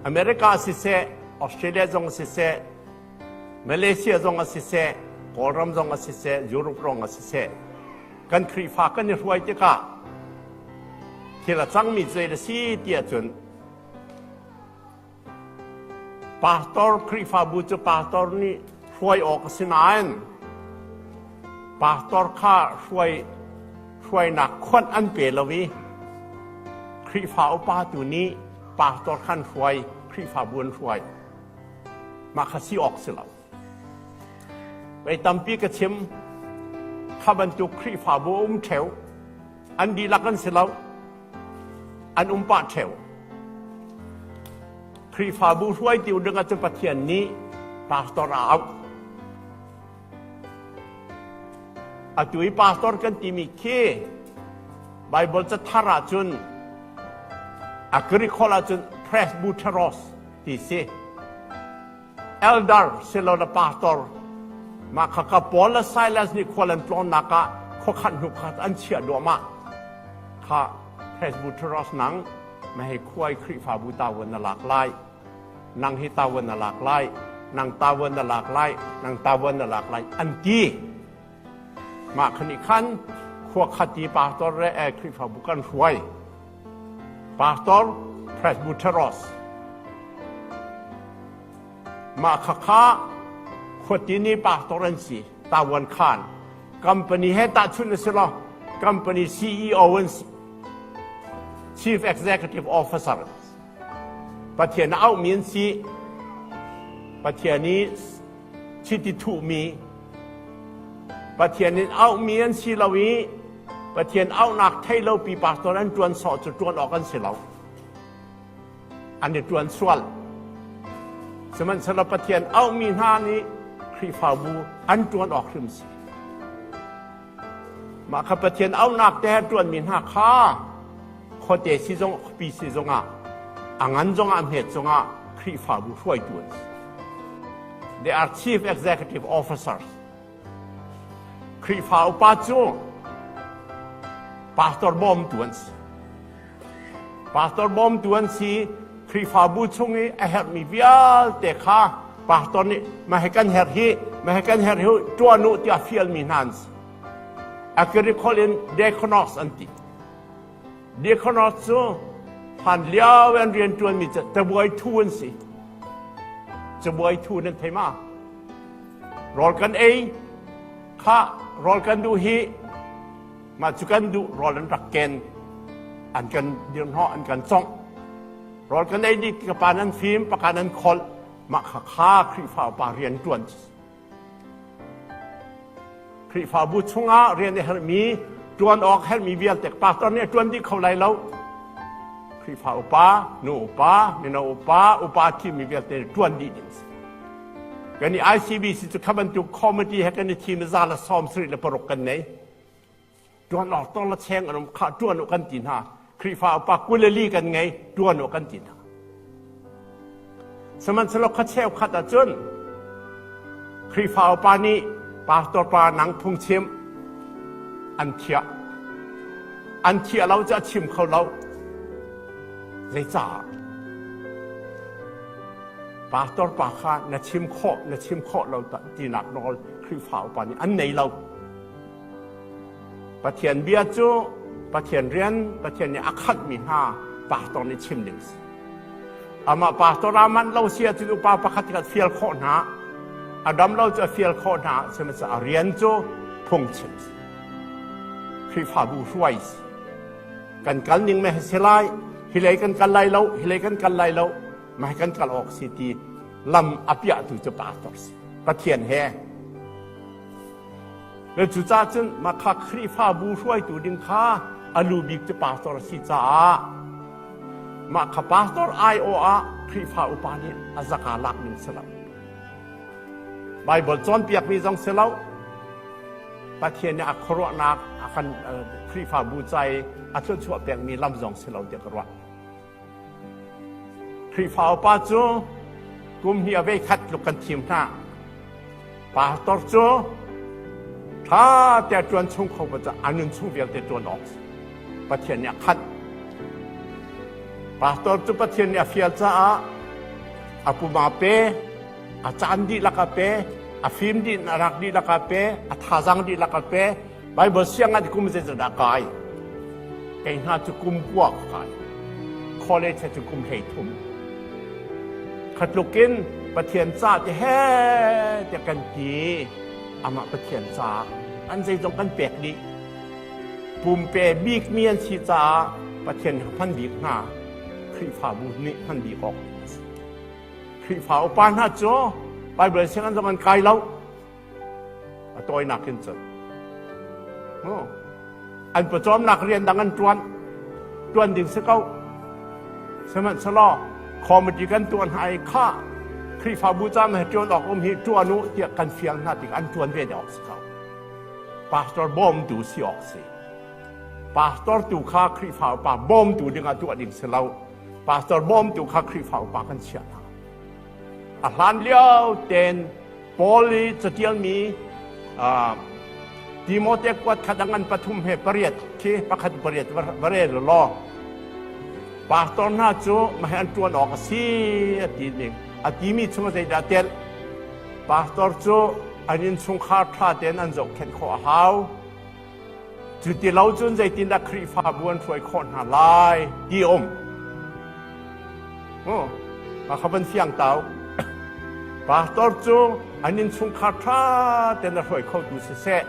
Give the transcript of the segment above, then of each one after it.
America siseh, Australia zong siseh, Malaysia zong ah siseh, Kawlram zong ah siseh, Europe zong ah siseh, kan Khrihfa kan i hruai tikah thil a cangmi zei a si tiah cun pastor Khrihfabu cu pastor nih hruai awk a si nain pastor kha hruainak khonh an pe lo i Khrihfa upa tu nih pastor khan hruai Khrihfabu an hruai mah kha si awk si lo vei tampi ka chim kha bantuk Khrihfabu um ṭheu an dihlak an si lo an um pah ṭheu Khrihfabu hruaitu dingah cu Pathian nih pastor a auh Atu i pastor kan timi khi Baibal cathar ahcun a Greekholh ahcun presbyteros ti si. Elder si lo le pastor mah kha ka Paul le Silas nih khual an tlawnnak ah khuakhat hnu khat an chiah duahmah kha presbyteros nang mahei khuai Khrihfabu ta wan na lak lai nang hi tawon na lak lai nang tawon na lak lai nang tawon na lak lai an ti mah khan i khan khua khati pastor re e khrifabu kan hruai pastor presbyteros mah kha kha khotini pastor an si tawan khan company he ta chun na si lo company ceo an si chief executive officer Pathian a auhmi an si. Pathian i chiti thuhmi, Pathian in auhmi an si lo i Pathian auhnak thei lopi pastor an ṭuan sawh cu ṭuan awk an si lo. An i ṭuan sual. Sihmanhsehlaw Pathian auhmi hna nih Khrihfabu an ṭuan awk hrim si. Mah kha Pathian auhnak te he ṭuanmi hna kha khuate sizung khuapi sizung ah a ngan zongah hmet cungah Khrihfabu hruaitu an si. They are chief executive officers. Khrihfa upa cu pastor bawmtu an si. Pastor bawmtu an si Khrihfabu chung i a herhmi vialte kha pastor nih mah hi kan herh hi mah hi kan herh hi ṭuan u tiah fialmi hna an si. Akiri kholh in deaconos an ti. Deaconos cu hlan lio an rian ṭuanmi cu tabuai thu an si. Cabuai thu nan thei ma? Rawl kan ei, khah rawl kan duh hi Mah cu kan duh rawl an rak ken, an kan dirhnawh, an kan congh. Rawl kan ei dih, ka pa nan fim, paka nan kholh, mah kha kha Khrihfa upa rian ṭuan. Khrihfabu chungah rian a herhmi, ṭuan awk herhmi vialte pastor nih a ṭuan dih kho lai lo. Khrihfa upa, nu upa, mino upa, upa thimi vialte nih ṭuan dih ding a si. Kan i ICBC cu kha bantuk committee he kan i thim i za le sawm sarih le paruk kan nei. ṭuan awk tawla cheng an um khah ṭuan u kan ti hna Khrihfa upa kuleli kan ngei ṭuan u kan ti hna sihmanhsehlaw khua cheu khat ahcun Khrihfa upa nih pastor pa nang phungchim an thiah an thiah lo cu a chim kho lo zeicah pastor pa kha na chim khawh na chim khawh lo tinak nawl Khrihfa upa nih an nei lo Pathian bia cu Pathian rian Pathian nih a khatmi hna pastor nih chim ding a si. Amah pastor aa manh lo si ahcun upa pakhat khat fial khawh hna, a dam lo cu a fial khawh hna, sihmanhsehlawl a rian cu phungchim a si. Khrihfabu hruai a si. Kan kal ning meh a si lai, hi lei kan kal lai lo, hi lei kan kal lai lo, mah hi kan kal awk si ti lam a piahtu cu pastor si. Pathian he Na cucaah cun Makha Khrihfabu hruaitu ding kha a lu bik cu pastor a si caah Makha pastor aiawh ah Khrihfa upa nih a zaka lak ning si lo. Baibal cawnpiakmi zong si lo, Pathian nih a khuaruahnak a kan Khrihfabu ca i a thluachuah pekmi lam zong si lo tiah ka ruah. Khrihfa upa cu kum hnih a vei khat tluk kan thim hna. Pastor cu ṭha te ṭuan chung kho cah a nun chung vialte ṭuan awk Pathian nih a khat. Pastor cu Pathian nih a fial caah a puma pe, a caan dih lakah pe, a fim dih, a rak dih lakah pe, a thazang dih lakah pe, Baibal siangah kum zeizat dah kai? Kei hna cu kum kua ka kai. Khawle che cu kum hlei thum. Khatluk in Pathian ca te he te kan ti. Amah Pathian ca an zeizong kan pek dih. Pumpe bik mi an si caah Pathian kha hman bik hna Khrihfabu nih hman bik awk Khrihfa upa hna cu Baibal siang an zong an kai lo. a tawinak in cun an pawcawmnak rian dang an ṭuan ṭuan ding si ko sihmanhselaw committee kan tuah hna i kha Khrihfabu ca me ṭuan awk um hi ṭuan u tiah kan fiang hna tikah an ṭuan ve awk si ko pastor bawmtu si awk si pastor tu kha Khrihfa upa bawmtu dingah tuah ding si lo pastor bawmtu kha Khrihfa upa kan chiah hna A hlanlio tein Paul i caṭialmi Timote kuatkhat ang an pathum he pariat khi pakhat pariat va rel u law pastor hna cu mahhi an ṭuan awk a si a ti ning a timi chung zeidah telh pastor cu an innchungkhar ṭha tein an zohkhenh khawh a hau Cu ti lo cun zeitindah Khrihfabu an hruai khawh hna lai ti a um. Oh, kha van fiang tau. Pastor cu an innchungkhar ṭha tein a hruai khotu siseh,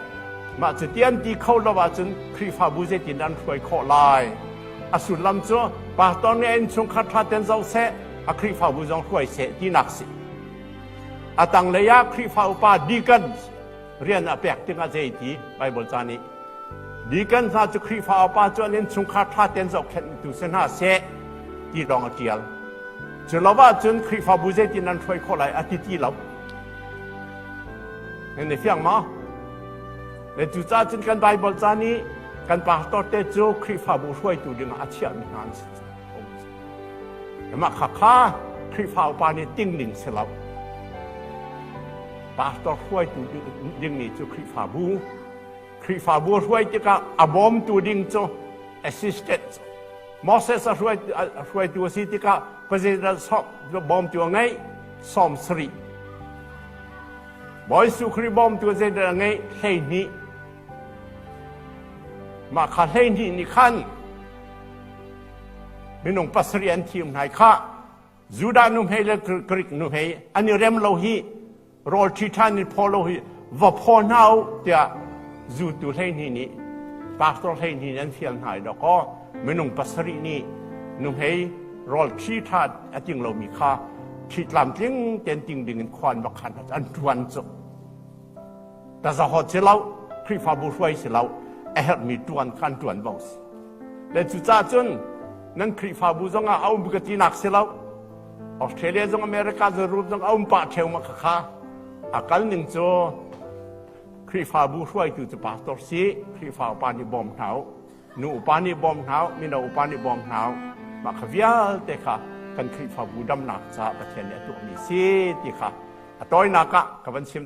mah cu ti an ti kho lo ahcun Khrihfabu zeitindah an hruai khawh lai? A sullam cu pastor nih a innchungkhar ṭha tein zoh seh, a Khrihfabu zong hruai seh tinak a si. A tanglei ah Khrihfa upa deacons rian a pek tikah zei ti Baibal ca nih Deacon hna cu Khrihfa upa cu an innchungkhar ṭha tein zohkhenhtu si hna seh ti lawng a ṭial. Cu lo ahcun Khrihfabu zeitin an hruai khawh lai a ti ti lo. Nan i fiang maw? Le cucaah cun kan Baibal ca nih kan pastor te cu Khrihfabu hruaitu dingah a chiahmi hna an si. Mah kha kha Khrihfa upa nih ting ning si lo. Pastor hruaitu dingmi cu Khrihfabu. Khrihfabu hruai tikah a bawmtu ding cu assistant Moses a hruaitu, a hruaitu a si tikah president sok bawmtu a ngeih sawm sarih Bawi Jesuh Khrih bawmtu zeidang a ngeih hleihnih mah kha hleihnih nih khan minung pasarih an thim hnai khah Judah nu hmei le Grik nu hmei an i rem lo hi rawl ṭhi ṭhan in phaw lo hi va phaw hna u tiah zultu hleihnih nih pastor hleihnih nih an fial hna i dawkaw minung pasarih nih nuhmei rawl ṭhi ṭhan a ting lomi kha ṭhi tlamtling tein ting dingin khua an va khan an ṭuan cu Tazahawt si lo, Khrihfabu hruai si lo, a herhmi ṭuan kha an ṭuan bang si. Le cucaah cun nan Khrihfabu zongah a um ka tinak si lo, Australia zong America Jerusalem zong a um pah ṭheu ma khakha a kal ning cu Khrihfabu hruaitu cu pastor si Khrihfa upa nih bawm hna u nu upa nih bawm hna u mino upa nih bawm hna u mah kha vialte kha kan Khrihfabu damnak caah Pathian nih a tuahmi si ti kha a tawinak ah ka van chim